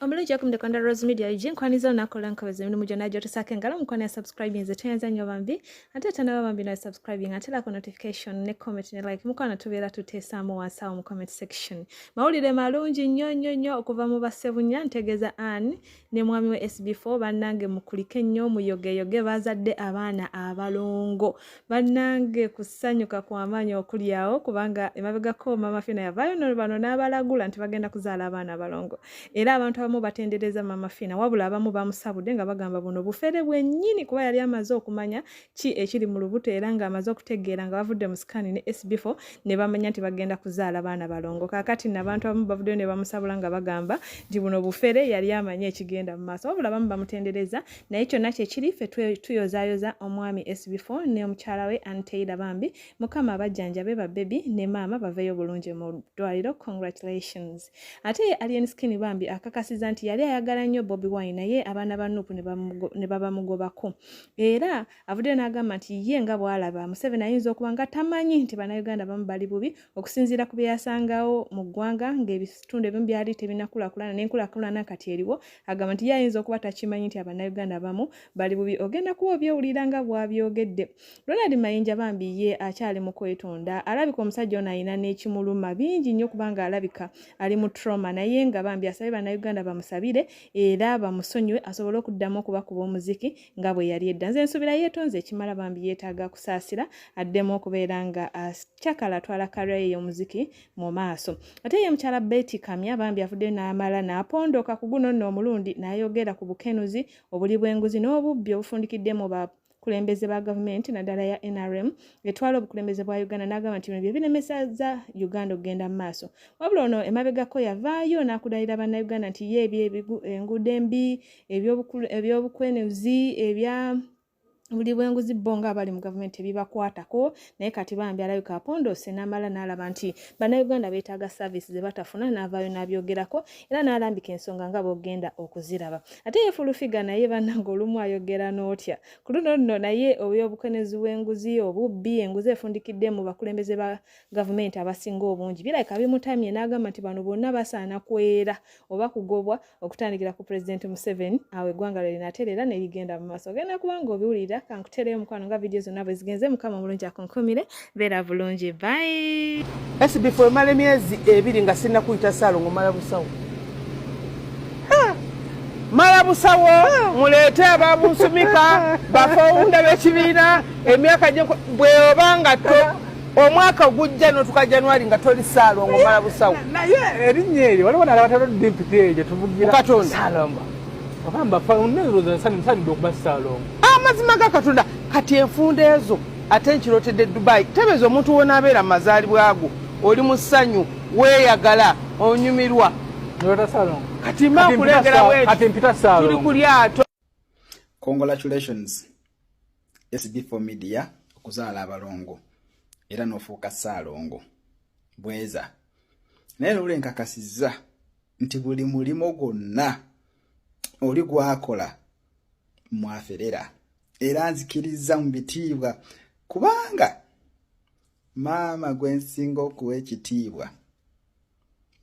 omulungi yakum the kanda rose media iji nkwaniza nakola nkabeza emirimu gyonna gyotusako engalo mukwano ya subscribing nze tweyanza nnyo bambi ate tanaba bambi nawe subscribing ate lako notification ne comment ne like mukwano tubeera tuteesaamu wansi awo mu comment section mawulire malungi nnyo nnyo nnyo okuva mu bassebunya ntegeeza ann ne mwami we sb4 bannange mukulike nnyo muyogeyoge bazadde abaana abalongo bannange kusanyuka kwamaanyi okulyawo kubanga emabegako maama fina yavaayo no bano n'abalagula nti bagenda kuzaala abaana abalongo era abantu abamu batendereza maama fina wabula abamu bamusabudde nga bagamba buno bufere bwennyini kuba yali amaze okumanya ki ekiri mu lubuto era ng'amaze okutegeera nga bavudde mu sikaani ne sb4 ne bamanya nti bagenda kuzaala baana balongo kakati nabantu abamu bavuddeyo ne bamusabula nga bagamba nti buno bufere yali amanyi ekigenda mu maaso wabula abamu bamutendereza naye kyonna kyekiri ffe tuyozayoza omwami sbfo ne omukyala we anteyira bambi mukama abajjanjabe babebi ne maama baveeyo bulungi mu ddwaliro congratulations ate ye alien skin bambi akakasiza nti yali ayagala nnyo bobi wine naye abaana ba nupu ne babamugobako era avuddeyo n'agamba nti ye nga bwalaba museveni ayinza okuba nga tamanyi nti bannayuganda bamu bali bubi okusinziira ku bye yasangawo mu ggwanga ng'ebitundu ebimu byali tebinakulakulana n'enkulakulana kati eriwo agamba nti ye ayinza okuba takimanyi nti abannayuganda abamu bali bubi ogenda kuba obyewulira nga bwabyogedde ronald mayinja bambi ye akyali mu kwetonda alabika omusajja ono alina n'ekimuluma bingi nnyo kubanga alabika ali mu trauma naye nga bambi asabye bannayuganda bamusabire era bamusonyiwe asobole okuddamu okubakuba omuziki nga bwe yali edda nze nsubira yeetonze ekimala bambi yeetaaga kusaasira addemu okubeera nga akyakala atwala karyaye y'omuziki mu maaso ate ye mukyala beti kamya bambi avuddeyo n'amala n'apondooka ku guno nno omulundi n'ayogera ku bukenuzi obuli bw'enguzi n'obubbi obufundikidde mu ba abakulembeze ba gavumenti naddala ya nrm etwala obukulembeze bwa uganda n'agamba nti bino bye biremeseza uganda okugenda mu maaso wabula ono emabegako yavaayo n'akudalira bannayuganda nti ye ebyo enguudo embi ebyobukwenuzi ebya buli bwenguzi bo nga abali mu gavumenti ebibakwatako naye kati bambi alabika apondose namala nalaba nti bannayuganda beetaaga saavisi ze batafuna naavaayo n'abyogerako era n'alambika ensonga nga bogenda okuziraba ate ye fulufiga naye bannanga olumu ayogera n'otya ku luno luno naye obyobukwenezi bw'enguzi obubbi enguzi efundikidde mu bakulembeze ba gavumenti abasinga obungi birabika bimutamye n'agamba nti bano bonna basaana kwera oba kugobwa okutandikira ku pulezidenti museveni awo eggwanga lwe linatereera ne ligenda mu maaso ogenda kuba nga obiwulira kankutereyo omukwano nga vidiyo zonna bwe zigenze mukama omulungi akunkumire beera bulungi bayi sbf emala emyezi ebiri nga sirina kuyita saalongo mala busawo mala busawo muleete ababunsumika bafowunda b'ekibiina emyaka bweoba nga to omwaka ogujja notuka januari nga toli saalongo omala busawo naye erinnya eryo waliwo nalabatalo dimpiti eyo gyetuvugirasalongo obaambafaneerozasansanidde okuba saalongo amazima ga katonda kati enfunda ezo ate nkirotedde dubai tebeeza omuntu wonaabeera mu mazaalibwa go oli mu ssanyu weeyagala onyumirwa kati mbakulengerawe tuli ku lyato Congratulations SB4 Media okuzaala abalongo era n'ofuuka ssaalongo bweza naye lule nkakasizza nti buli mulimu gwonna oli gwakola mwaferera era nzikirizza mu bitiibwa kubanga maama gwe nsinga okuwa ekitiibwa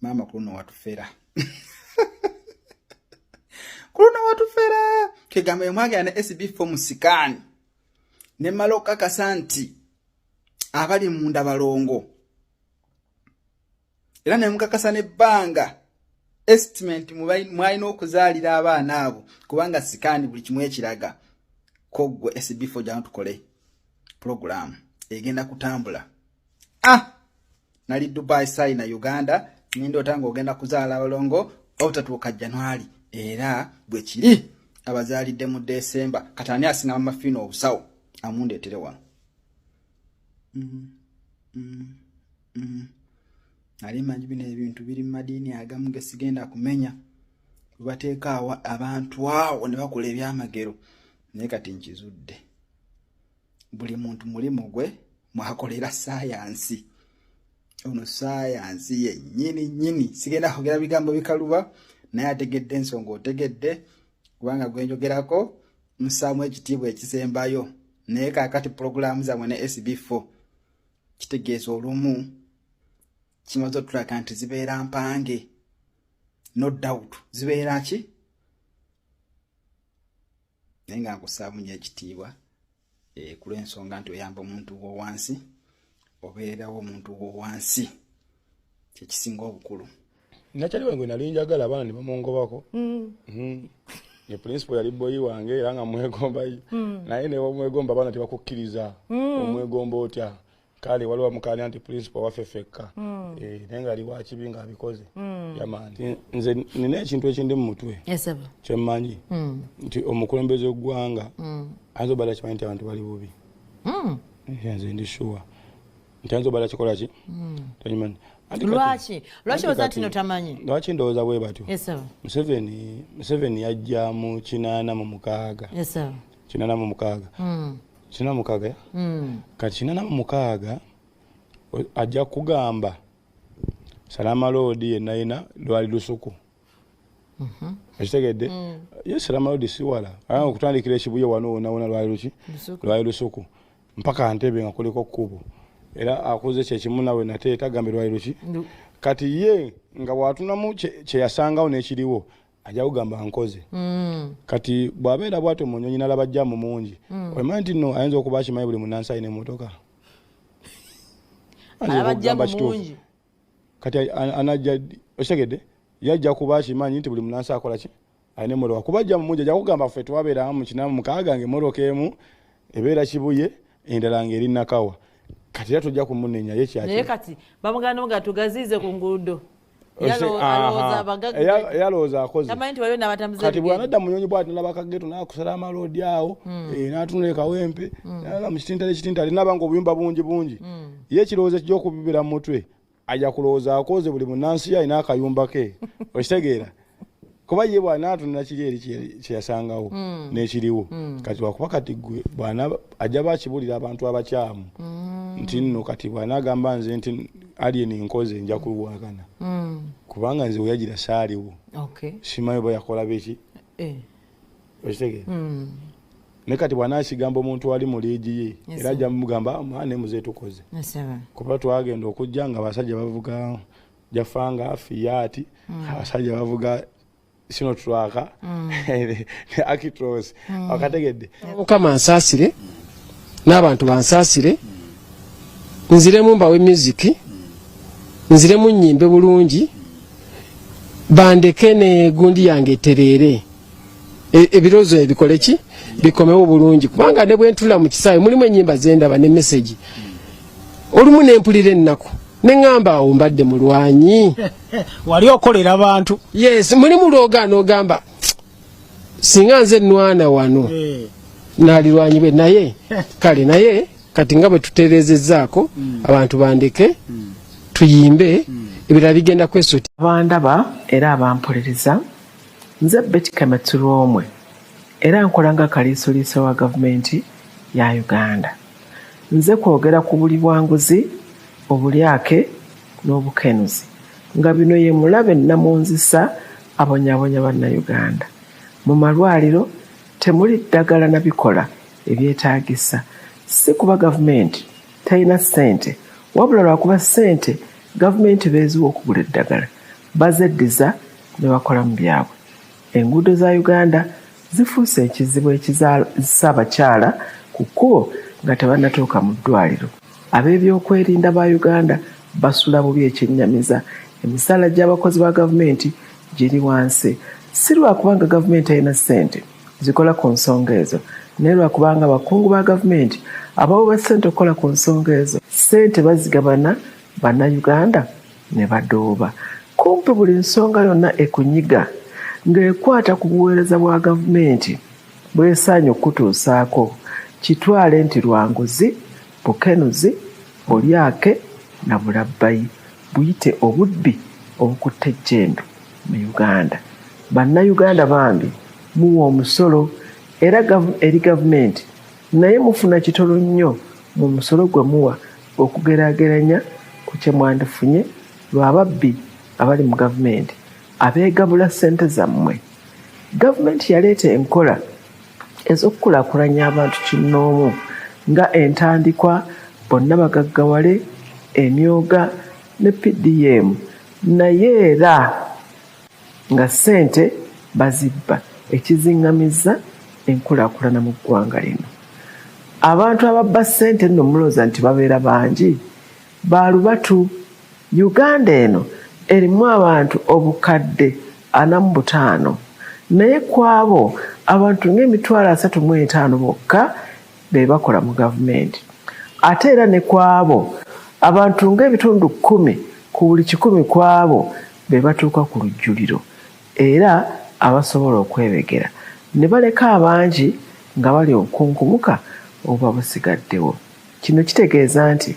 maama kuluno watufera kuluno watufera kegamba yemwagera ne sb fo musikaani ne mala okukakasa nti abali munda balongo era nemukakasa nebbanga estimate mwalina okuzaalira abaana abo kubanga sikaani buli kimu ekiraga koggwe sb fo gyano tukole pulogulaamu egenda kutambula ah! nali dubai sai na uganda nindoota ng'ogenda kuzaala abalongo obutatuuka januari era bwe kiri abazaalidde mu desemba kati ani asinga mamafiina obusawo amundeetere wano mm, mm, mm. ali manyi bino ebintu biri mu madiini agamu ge sigenda kumenya webateeka abantu awo ne bakola ebyamagero naye kati nkizudde buli muntu mulimu gwe mwakolera sayansi ono sayansi yenyini nyini sigenda kogera bigambo bikaluba naye ategedde ensonga otegedde kubanga gwenjogerako musaamu ekitiibwa ekisembayo naye kakati pulogulaamu zamwe ne sb4 kitegeeza olumu kimaze otulaga nti zibeera mpange no doubt zibeera ki naye nga nkusaamu nyo ekitiibwa eh, kulwensonga nti oyamba omuntu wowansi obeerawo omuntu wowansi kyekisinga obukulu nakyali wange nali njagala abaana nebamungobako mm. mm. ne principal yali boyi wange era nga mwegomba mm. naye newamwegomba abaana tebakukkiriza omwegomba otya kale waliwo amukaanya nti principal waffe fekka hmm. eh, naye nga aliwo akibi nga abikoze hmm. yamaani nze nina ekintu ekindi mu mutwe kyemmanyi hmm. nti omukulembeze w'eggwanga ayinza obala kimanyi nti abantu bali bubi nze ndi shuwa nti ayinza obala kikola ki takimanyi lwaki lwaki oza tino tamanyi lwaki ndowooza bwe batyo museveni yajja mu kinaana mu mukaaga kinaana mu mukaaga kina mukaaga mm. kati kina na mukaaga ajja kugamba salama loodi yenayina lwali lusuku mhm. ekitegedde mm. ye salama loodi siwala aa okutandikira ekibuye wano wonawona lwali luki lwali lusuku mpaka ntebe nga kuliko kkubo era akuze kyekimu nawe nate tagambe lwali luki kati ye nga watunamu kyeyasangawo nekiriwo ajja kugamba nkoze mm. kati bw'abeera bwatyo mu nyonyi nalaba jjamu mungi mm. omanyi nti no ayinza okuba akimanyi buli munansi alina emotoka kati anajja okitegedde yajja kuba akimanyi nti buli munansi akola ki alina emotoka kuba jjamu mungi ajja kugamba ffe twabeeramu mukinamu mukaaga nga emotoka emu ebeera kibuye endala ngaeri nakawa kati era tojja kumunenya yekyaki naye kati bamuganda nga tugaziize ku nguudo yalowooza akozekati bwanadda munyonyi bwati nabakageto nakusala amaloodi awo hmm. eh, natunula ekawempe hmm. nala mukitintale kitintale nabanga obuyumba bungi bungi hmm. ye ekirowoozo ekija okubibira mu mutwe aja kulowooza akoze buli munansi yalina akayumba ke okitegeera kuba ye bwana atunula kiri eri kyeyasangawo mm. nekiriwo mm. kati wakuba kati gwe bwana ajja bakibulira abantu abakyamu mm. nti nno kati bwana agamba nze nti alien nkoze nja kulwagana mm. kubanga nze weyagira saaliwo okay. simanyi oba yakola beki eh. okitegere mm. ne kati bwana akigamba omuntu ali mu liigi ye yes, era ajja mugamba ah, mwana emuze tukoze yes, kuba twagenda okujja nga basajja bavuga jafanga fiyati mm. abasajja bavuga sino twaka mm. ne akitros mm. wakategedde mukama nsasire n'abantu bansasire nziremu mbawe muziki nziremu nyimbe bulungi bandeke ne gundi yange terere E, ebirozo ebikole ki bikomewo bulungi kubanga ne bwentula mu kisaawe mulimu enyimba zendaba ne message olumu nempulira ennaku neŋamba awo mbadde mulwanyi wali okolera abantu yes mulimu lwogaana ogamba singa nze nwana wano eh. nalirwanyi be naye kale naye kati nga bwe tutereezezaako mm. abantu bandeke mm. tuyimbe mm. ebirala bigenda kwesoti abandaba era abampulereza Nze Betty Kametsu Lwomwe era nkola nga kaliisoliiso wa gavumenti ya Uganda. Nze kwogera ku buli bwanguzi, obulyake n'obukenuzi nga bino ye mulabe nnamunzisa abonyabonya Bannayuganda. Mu malwaliro temuli ddagala na bikola ebyetaagisa si kuba gavumenti terina ssente wabula lwakuba ssente gavumenti beeziwa okugula eddagala. Bazeddiza ne bakolamu byabwe. Enguudo za Uganda zifuuse ekizibu ekizalzsa abakyala ku kkubo nga tebannatuuka mu ddwaaliro. Abeebyokwerinda ba Uganda basula bubi ekyennyamiza emisaala gy'abakozi ba gavumenti giri wansi si lwa kubanga gavumenti terina ssente zikola ku nsonga ezo naye lwa kubanga abakungu ba gavumenti abawoba ssente okukola ku nsonga ezo ssente bazigabana Bannayuganda ne badooba kumpi buli nsonga yonna ekunyiga ng'ekwata ku buweereza bwa gavumenti bw'esaanye okukutuusaako kitwale nti lwa nguzi, bukenuzi, bulyake na bulabbayi buyite obubbi obukutte ejjembe mu Uganda. Bannayuganda bambi muwa omusolo era eri gavumenti. naye mufuna kitono nnyo mu musolo gwe muwa okugeraageranya ku kye mwandifunye lwa babbi abali mu gavumenti abeegabula ssente zammwe gavumenti yaleeta enkola ez'okukulaakulanya abantu kinnoomu nga entandikwa bonna bagaggawale emyoga ne pdm naye era nga ssente bazibba ekizingamizza enkulakulana mu ggwanga lino. Abantu ababba ssente nno mulooza nti babeera bangi? Baalubatu. Uganda eno erimu abantu obukadde ana mu butaano naye ku abo abantu ng'emitwalo asatu mu etaano bokka be bakola mu gavumenti ate era ne ku abo abantu ng'ebitundu kkumi ku buli kikumi ku abo be batuuka ku lujjuliro era abasobola okwebegera ne baleka abangi nga bali obukunkumuka obuba busigaddewo. Kino kitegeeza nti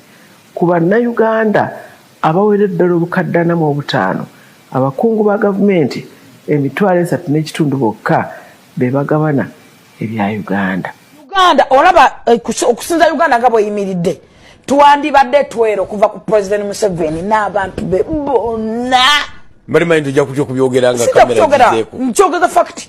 ku Bannayuganda abawera eddala obukadde ana mu obutaano, abakungu ba gavumenti emitwalo esatu n'ekitundu bokka be bagabana ebya uganda uganda olaba eh, okusinza uganda nga bweyimiridde twandibadde twero okuva ku president museveni n'abantu be bonna mbali manyi tujja kutya okubyogeranga kamera nkyogeza fakiti